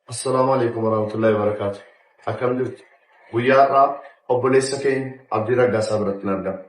Assalaamu Aleykum Warahmatullahi Wabarakaatu. Akkam jirtu? Guyyaa har'aa obboleessa keenya Abdii Raggaasaa birattin argama.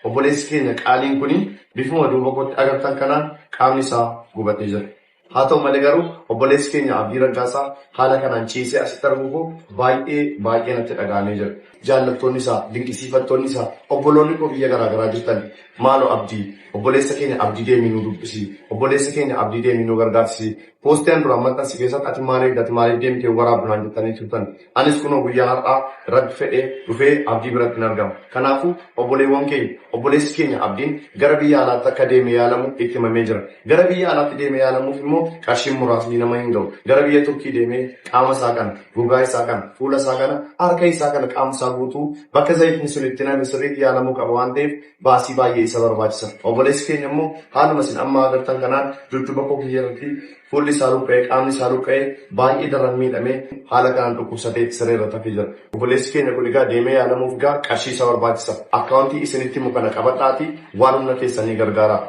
Obboleessi keenya qaaliin kuni bifuma duuba kootti agartan kanaan qaamni isaa gubatee jira. Haa ta'u malee garuu obboleessi keenya Abdii Raggaasaa haala kanaan ciisee asitti arguu koo baay'ee baay'ee natti dhaga'amee jira. Jaallattoonni isaa, dinqisiifattoonni isaa, obboloonni koo biyya garaa garaa jirtan maaloo Abdii obboleessa keenya Abdii deemii nu dubbisi, obboleessa keenya Abdii deemii nu gargaarsisi Poostii an duraan maxxanse keessatti ati maal eegda, ati maaliif deemte hin waraabdu naan jettanii turtan. Anis kunoo guyyaa har'aa Rabbi fedhee dhufee Abdii birattin argama. Kanaafuu obboleewwan keenya, obboleessi keenya Abdiin gara biyya alaatti akka deemee yaalamu itti himamee jira. Gara biyya alaatti deemee yaalamuuf immoo qarshiin muraasni nama hin ga'u. Gara biyya Turkii deemee qaama isaa kana, gogaa isaa kana, fuula isaa kana, harka isaa kana, qaama isaa guutuu bakka zayitni sun itti naqame sirriitti yaalamuu qaba waan ta'eef baasii baay'ee isa barbaachisa. Obboleessi keenya immoo haaluma isin amma agartan kanaan dudduba koo kiyya irratti fuulli isaa luqqa'ee, qaamni isaa luqqa'ee baay'ee daran miidhamee haala kanaan dhukkubsatee siree irratti hafee jira. Obboleessi keenya kun egaa deemee yaalamuuf egaa qarshii isa barbaachisa. Akkaawuntii isinitti himu kana qabadhaatii waan humna keessanii gargaaraa.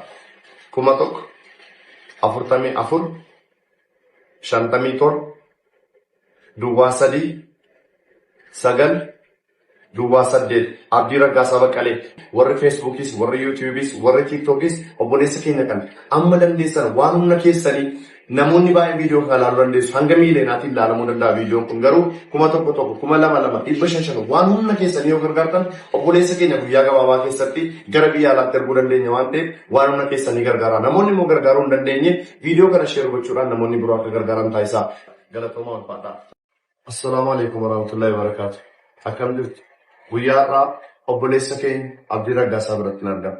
kuma tokko afurtamii afur shantamii torba duwwaa sadii sagal Duwwaa 8, Abdii Raggaasaa Baqqalee. Warri Feesbuukiis, warri Yuutiyuubiis, warri Tiiktookiis obboleessa keenya kana. Amma dandeessan waan humna keessanii namoonni baay'een viidiyoo kana ilaaluu dandeessu. Hanga miiliyeenaatiin ilaalamuu danda'a viidiyoon kun. Garuu kuma tokko tokko, kuma lama lama, dhibba shan shan waan humna keessanii yoo gargaartan obboleessa keenya guyyaa gabaabaa keessatti gara biyya alaatti erguu dandeenya waan ta'eef waan humna keessanii gargaaraa. Namoonni immoo gargaaruu hin dandeenye viidiyoo kana sheer gochuudhaan namoonni biroo akka gargaaran taasisaa. Galatoomaa ulfaadhaa. Assalaamu Aleykum Warahmatullahi Wabarakatuh Akkam jirtu? Guyyaa har'aa obboleessa keenya Abdii Raggaasaa birattin argama.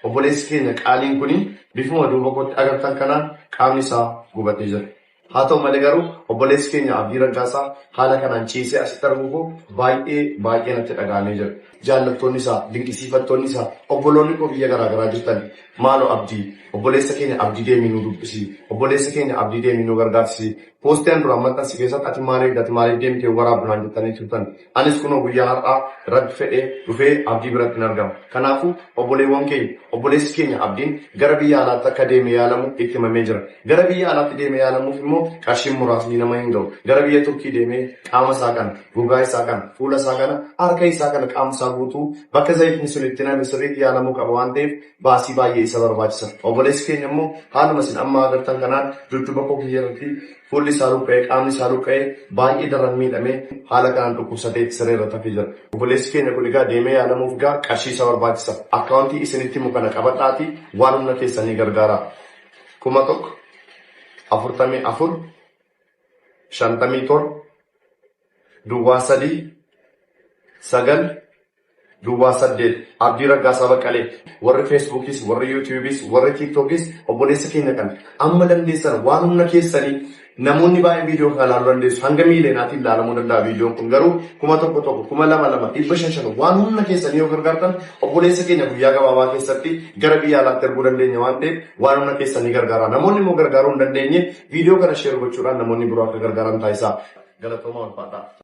Obboleessi keenya qaaliin kun bifuma duuba kootti agartan kanaan qaamni isaa gubatee jira. Haa ta'u malee garuu obboleessi keenya Abdii Raggaasaa haala kanaan ciisee asitti arguu koo baay'ee baay'ee natti dhaga'amee jira. Jaallattoonni isaa, dinqisiifattoonni isaa, obboloonni koo biyya garaa garaa jirtan maaloo Abdii obboleessa keenya Abdii deemii nu dubbisi, obboleessa keenya Abdii deemii nu gargaarsi Poostii an duraan maxxanse keessatti ati maal eegda, ati maaliif deemte hin waraabdu naan jettanii turtan. Anis kunoo guyyaa har'aa Rabbi fedhee dhufee Abdii birattin argama. Kanaafuu obboleewwan keenya, obboleessi keenya Abdiin gara biyya alaatti akka deemee yaalamu itti himamee jira. Gara biyya alaatti deemee yaalamuuf immoo qarshiin muraasni nama hin gahu. Gara biyya Turkii deemee qaama isaa kana, gogaa isaa kana, fuula isaa kana, harka isaa kana, qaama isaa guutuu bakka zayitni sun itti naqame sirriitti yaalamuu qaba waan ta'eef, baasii baay'ee isa barbaachisa. Obboleessi keenya immoo haaluma isin amma agartan kanaan dudduba koo kiyya irratti fuulli isaa luqqa'ee, qaamni isaa luqqa'ee baay'ee daran miidhamee haala kanaan dhukkubsatee siree irratti hafee jira. Obboleessi keenya kun egaa deemee yaalamuuf egaa qarshii isa barbaachisa. Akkaawuntii isinitti himu kana qabadhaatii waan humna keessanii gargaaraa. 1000 44 57 duwwaa 3 9 Duwwaa 8, Abdii Raggaasaa Baqqalee. Warri Feesbuukiis, warri Yuutuubiis, warri Tiiktookis obboleessa keenya kana. Amma dandeessan waan humna keessanii namoonni baay'een viidiyoo kana ilaaluu dandeessu. Hanga miiliyoonaatiin ilaalamuu danda'a viidiyoon kun garuu kuma tokko tokko, kuma lama lama, dhibba shan shan waan humna keessanii yoo gargaartan obboleessa keenya guyyaa gabaabaa keessatti gara biyya alaatti erguu dandeenya waan ta'eef waan humna keessanii gargaaraa. Namoonni immoo gargaaruu hin dandeenye viidiyoo kana sheer gochuudhaan namoonni biroo akka gargaaran taasisaa. Galatoomaa ulfaadhaa.